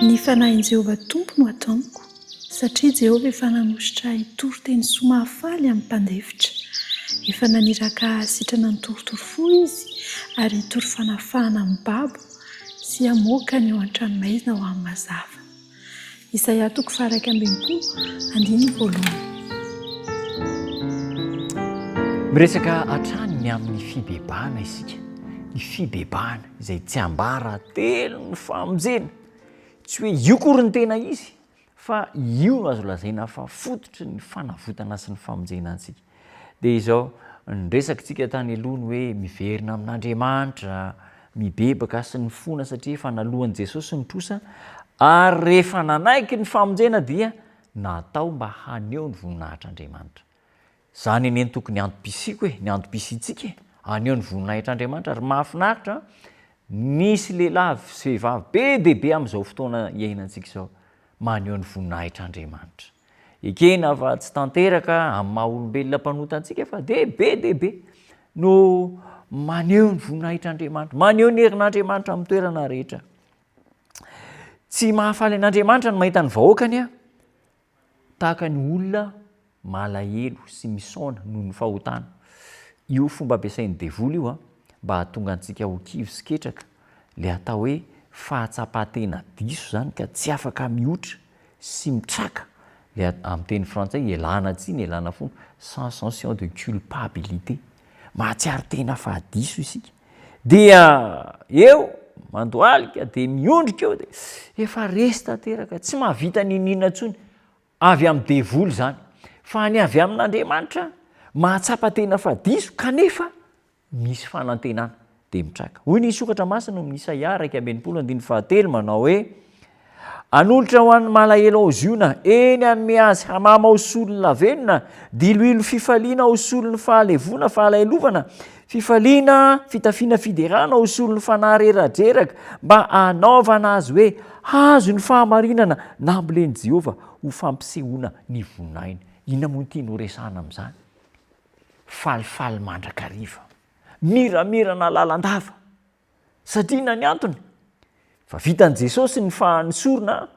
Ny fanahin'i Jehovah Tompo no atao amiko, satria Jehovah efa nanositra ahy hitory teny soa mahafaly amin'ny mpandefitra. Efa naniraka ahy hahasitrana ny torotoro fo izy, ary hitory fanafahana amin'ny babo, sy hamoaka ny eo an-tranomaizina ho amin'ny mazava. Isaia toko faha-iraika ambin'ny folo, andininy voalohany. Miresaka hatrany ny amin'ny fibebahana isika, ny fibebahana izay tsiambaratelon'ny famonjena. Tsy hoe io akory ny tena izy, fa io no azo lazaina fa fototry ny fanavotana sy ny famonjena antsika. Dia izao, ny resakitsika tany aloha ny hoe miverina amin'Andriamanitra, mibebaka sy mifona satria efa naloan'i Jesosy ny trosa ary rehefa nanaiky ny famonjena dia natao mba haneho ny voninahitr'Andriamanitra. Izany anie no tokony antom-pisiako e, ny antom-pisiantsika e, haneho ny voninahitr'Andriamanitra ary mahafinaritra misy lehilahy sy vehivavy be dia be amin'izao fotoana iainantsika izao maneho ny voninahitr'Andriamanitra. Ekena fa tsy tanteraka amin'ny maha olombelona mpanota antsika fa dia be dia be no maneho ny voninahitr'Andriamanitra, maneho ny herin'Andriamanitra amin'ny toerana rehetra. Tsy mahafaly an'Andriamanitra ny mahita ny vahoakany aho, tahaka ny olona malahelo sy misaona noho ny fahotana. Io fomba ampiasain'ny devoly io a, mba hahatonga antsika ho kivy sy ketraka, le atao hoe fahatsapan-tena diso zany ka tsy afaka mihotra. sy mitraka le amin'ny teny frantsay ialana tsiny ialana fony sans senstion de culpabilité mahatsiaro tena fa diso isika dia eo mandohalika dia miondrika eo dia efa resy tanteraka tsy mahavita niniana intsony avy amin'ny devoly izany fa ny avy amin'Andriamanitra mahatsapa tena fa diso kanefa misy fanantenana dia mitraka. Hoy ny sokatra masina ao amin'ny Isaia iraika amby enimpolo andininy fahatelo manao hoe Anolotra ho an'ny malahelo ao Ziona, eny anome azy hamama ao solon'ny lavenona, diloilo fifaliana ao solon'ny fahalevoana, fahalahelovana, fifaliana, fitafiana fiderana ao solon'ny fanahy reradreraka, mba hanaovana azy hoe hazo ny fahamarinana nambolen'i Jehovah ho fampisehoana ny voninahiny. Inona moa ity no resahana amin'izany? Falifaly mandrakariva, miramirana lalandava, satria inona ny antony? Efa vitan'i Jesosy ny fahan'ny sorona,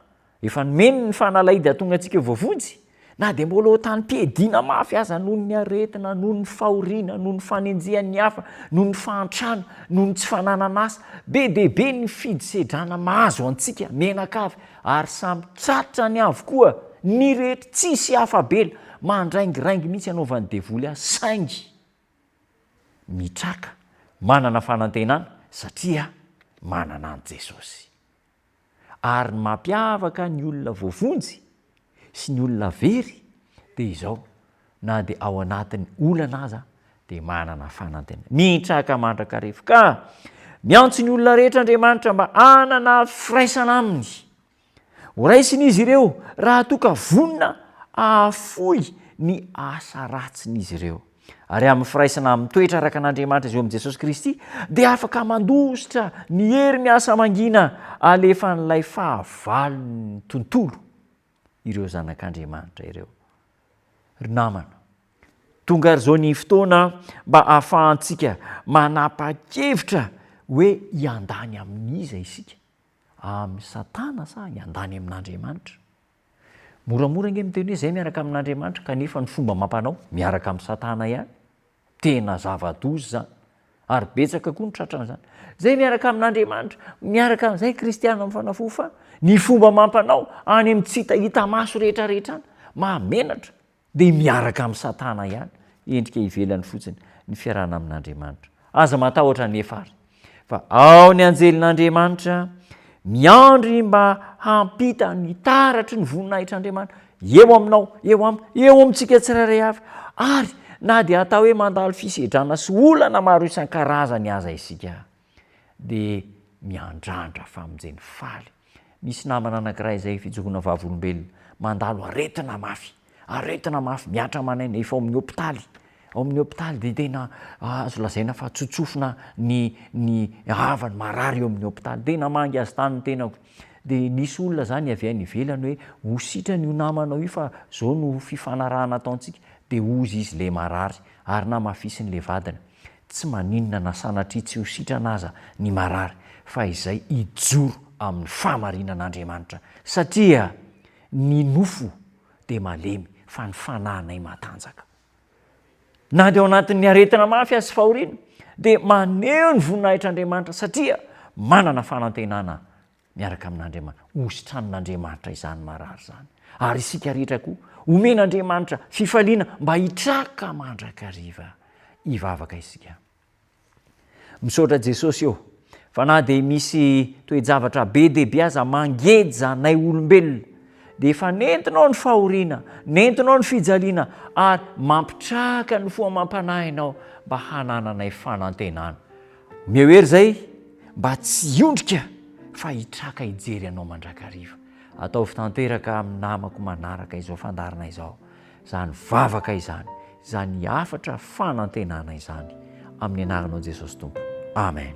efa nomeny ny fanalahidy hahatonga antsika voavonjy, na dia mbola ho tamim-piadiana mafy aza noho ny aretina, noho ny fahoriana, noho ny fanenjehan'ny hafa, noho ny fahantrana, noho ny tsy fananan'asa. Be dia be ny fidisedrana mahazo antsika, menakavy. Ary samy tratrany avokoa ny rehetra tsisy afa-bela, mandraingiraingy mihitsy anaovan'ny devoly azy saingy mitraka manana fanantenana satria manana an'i Jesosy. Ary ny mampiavaka ny olona voavonjy sy ny olona very dia izao, Na dia ao anatin'ny olana aza dia manana fanantenana. Mitraka mandrakariva. Ka miantso ny olona rehetra Andriamanitra mba hanana firaisana Aminy. Horaisiny izy ireo raha toa ka vonona hahafoy ny asa ratsin'izy ireo. Ary amin'ny firaisana mitoetra araka an'Andriamanitra izay eo amin'i Jesosy Kristy, dia afaka mandositra ny hery miasa mangina alefan'ilay fahavalon'ny tontolo. ireo zanak'Andriamanitra ireo. Ry namana, tonga ary izao ny fotoana mba ahafahantsika manapa-kevitra hoe hiandany amin'iza isika, amin'i Satana sa hiandany amin'Andriamanitra? Moramora ange miteny hoe izay miaraka amin'Andriamanitra kanefa ny fomba amam-panao miaraka amin'i Satana ihany. Tena zava-doza izany. Ary betsaka koa ny tratran'izany. Izay miaraka amin'Andriamanitra, miaraka amin'izay ny kristiana amin'ny fanafo fa ny fomba amam-panao any amin'ny tsy hita hita maso rehetrarehetra any, mahamenatra, dia miaraka amin'i Satana ihany, endrika ivelany fotsiny ny fiarahana amin'Andriamanitra. Aza matahotra anefa ary. Fa ao ny anjelin'Andriamanitra miandry mba hampita ny taratry ny voninahitr'Andriamanitra eo aminao, eo amiko, eo amintsika tsirairay avy, ary na dia atao hoe mandalo fisedrana sy olana maro isan-karazany aza isika, dia miandrandra famonjeny faly Misy namana anankiray izay fijoroana vavolombelona, mandalo aretina mafy, aretina mafy mihatra aman'aina, efa ao amin'ny hopitaly, ao amin'ny hopitaly dia tena azo lazaina fa tsotsofina ny ny havany, marary eo amin'ny hopitaly, dia namangy azy tany ny tenako, dia nisy olona zany avy any ivelany hoe ho sitrana io namanao io fa zao no fifanarahana ataontsika, dia hozy izy le marary ary namafisiny le vadiny. Tsy maninona na sanatria tsy ho sitrana aza ny marary, fa izay hijoro amin'ny fahamarinan'Andriamanitra, satria ny nofo dia malemy, fa ny fanahinay matanjaka. Na dia ao anatin'ny aretina mafy aza sy fahoriana, dia maneho ny voninahitr'Andriamanitra, satria manana fanantenana Miaraka amin'Andriamanitra. Hositran'Andriamanitra izany marary izany. Ary isika rehetra koa, omen'Andriamanitra fifaliana mba hitraka mandrakariva. Hivavaka isika. Misaotra Jesosy ô, fa na dia misy toe-javatra be dia be aza mangeja anay olombelona, dia efa nentinao ny fahoriana, nentinao ny fijaliana, ary mampitraka ny fo amam-panahinao mba hanananay fanantenana. Omeo hery izay mba tsy hiondrika fa hitraka hijery anao mandrakariva. Ataovy tanteraka amin'ny namako manaraka izao fandaharana izao izany vavaka izany, izany hafatra fanantenana izany. Amin'ny anaranao Jesosy Tompo. Amen.